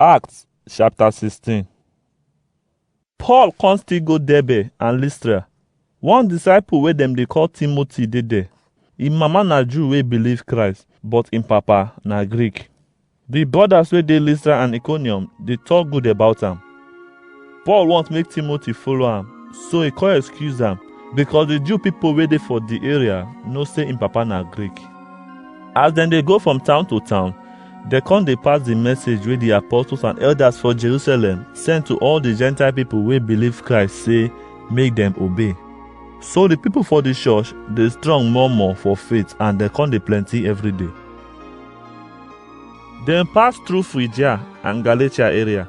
Acts chapter 16 Paul come still go Derbe and Lystra. One disciple wey dem dey call Timothy dey there. Im mama na Jew wey believe Christ, but im papa na Greek. The brothers wey dey Lystra and Iconium dey talk good about am. Paul want make Timothy follow am, so he come excuse am because the Jew people wey dey for the area know say im papa na Greek. As dem dey go from town to town, dem come dey pass the message wey the apostles and elders for Jerusalem send to all the Gentile people wey believe Christ say make dem obey. So the people for the church dey strong more more for faith and dem come dey plenty every day. Dem pass through Phrygia and Galatia area.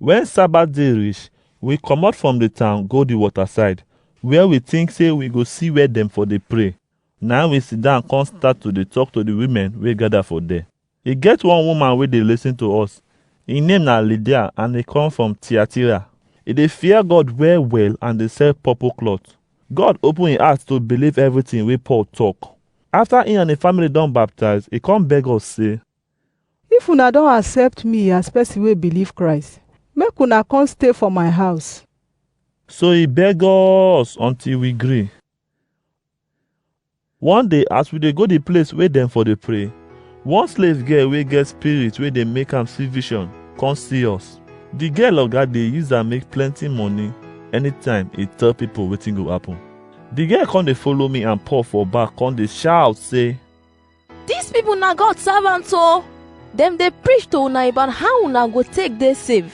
Wen Sabat day rish, wi komot from di town go di wota-side, where wi tink sey wi go si where dem for dey pray. Na-im wi sidan kon stat to dey tok to di wimen wey gada for der. E get one woman wey dey lisin to us. Im name na Lidia and e kom from Tiatira. E dey fear God well-well and dey sell purpol klot. God open im heart to biliv evritin wey Paul tok. Afta im and im family don baptize, e kon beg us sey, If una don accept me as person wey believe Christ, make una come stay for my house. So he beg us until we gree. One day as we dey go the place wey dem for dey pray, one slave girl wey get spirit wey dey make am see vision come see us. The girl oga dey use am make plenty money anytime e tell people wetin go happen. The girl come dey follow me and Paul for back come dey shout say, These people na God servants o. Dem dey preach to una about how una go take dey save.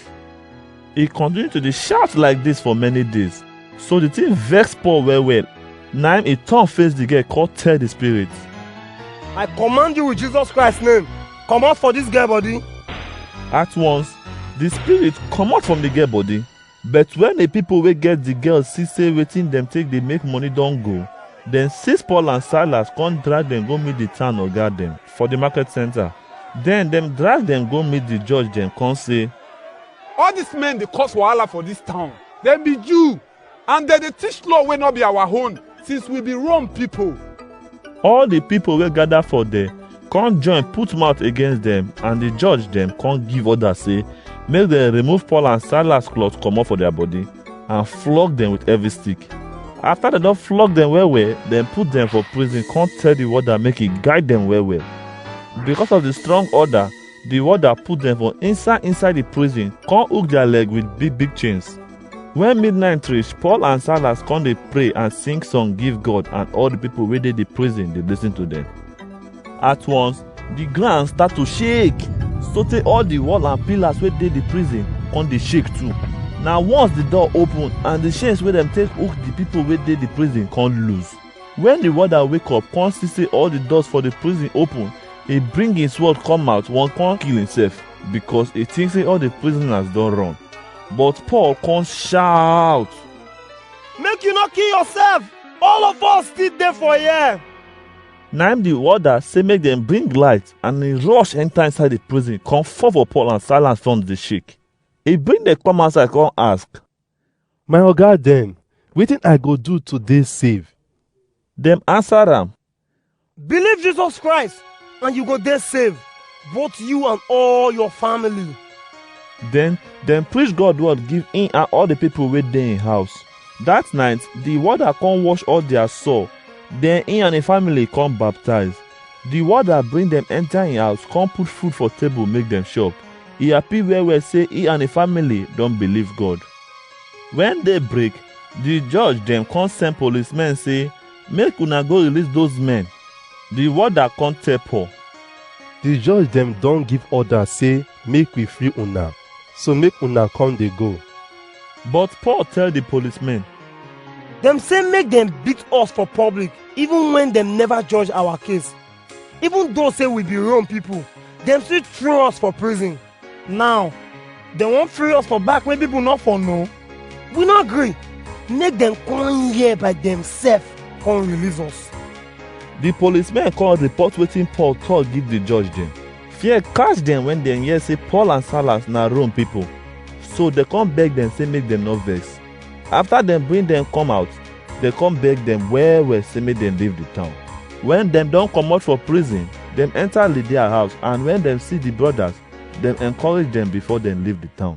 He continued to dey shout like this for many days. So the thing vex Paul well well. Na him he turn face the girl come tell the spirit. I command you with Jesus Christ name, comot for this girl body. At once, the spirit comot from the girl body But when the people wey get the girl see say wetin dem take dey make money don go, dem seize Paul and Silas come drag dem go meet the town oga dem for the market center. Then dem drag dem go meet the judge dem come say, All these men dey cause wahala for this town. Dem be Jew and dem dey teach law wey no be our own. since we be Rome people. All the people wey gather for there come join put mouth against them and the judge them come give order say make them remove Paul and Silas cloth comot for their body and flog them with heavy stick. After dem don flog dem well well, dem put dem for prison come tell the warder make he guide dem well well. Because of the strong order, Di warder put dem for inside inside di prison kon hook dia leg wit big big chains. Wen midnight reach, Paul and Silas kon dey pray and sing song give God and all di pipol wey dey di prison dey listen to dem. At once, di groun start to shake sotey all di wall and pillars wey dey di prison kon dey shake too. Na once di door open and di chains wey dem take hook di pipol wey dey di prison kon loose. Wen di warder wake up kon si sey all di doors for di prison open, e bring e swod kom out won kon kill imsef, bikos e tink sey all di prisonas don ron. But Pol kon shaut, Make yu nor kill yorsef! All of us stil dey for yere! Naim di warder sey make dem bring light and e rosh enta inside di prison kon fall for Pol and Sailas front dey shake. E bring dem kom outside kon ask, My oga dem, wetin I go do to dey save? Dem answer am, Believe Jesus Christ and you go dey safe, both you and all your family. Then dem preach God word give him and all the people wey dey him house. That night, the warder come wash all their sore. Then he and him family come baptize. The warder bring them enter him house, come put food for table make them chop. e happy well well say e and e family don believe God. When day break, the judge dem come send policemen say, make una go release those men. The warder come tell Paul, The judge dem don give order say make we free una, so make una come dey go. but Paul tell the policemen, Dem say make dem beat us for public even when dem never judge our case. Even though say we be Rome people, dem still throw us for prison. Now, dem wan free us for back wey people no for know. We no gree. Make dem come here by themselves come release us. The policemen come report wetin Paul talk give the judge dem. Fear catch dem when dem hear say Paul and Silas na Rome people. So dem come beg dem say make dem no vex. Afta dem bring dem kom out, dem kom beg dem well-well sey make dem leave di town. Wen dem don komot for prizin, dem enta Lidia house and wen dem si di brodas, dem enkorage dem before dem leave di town.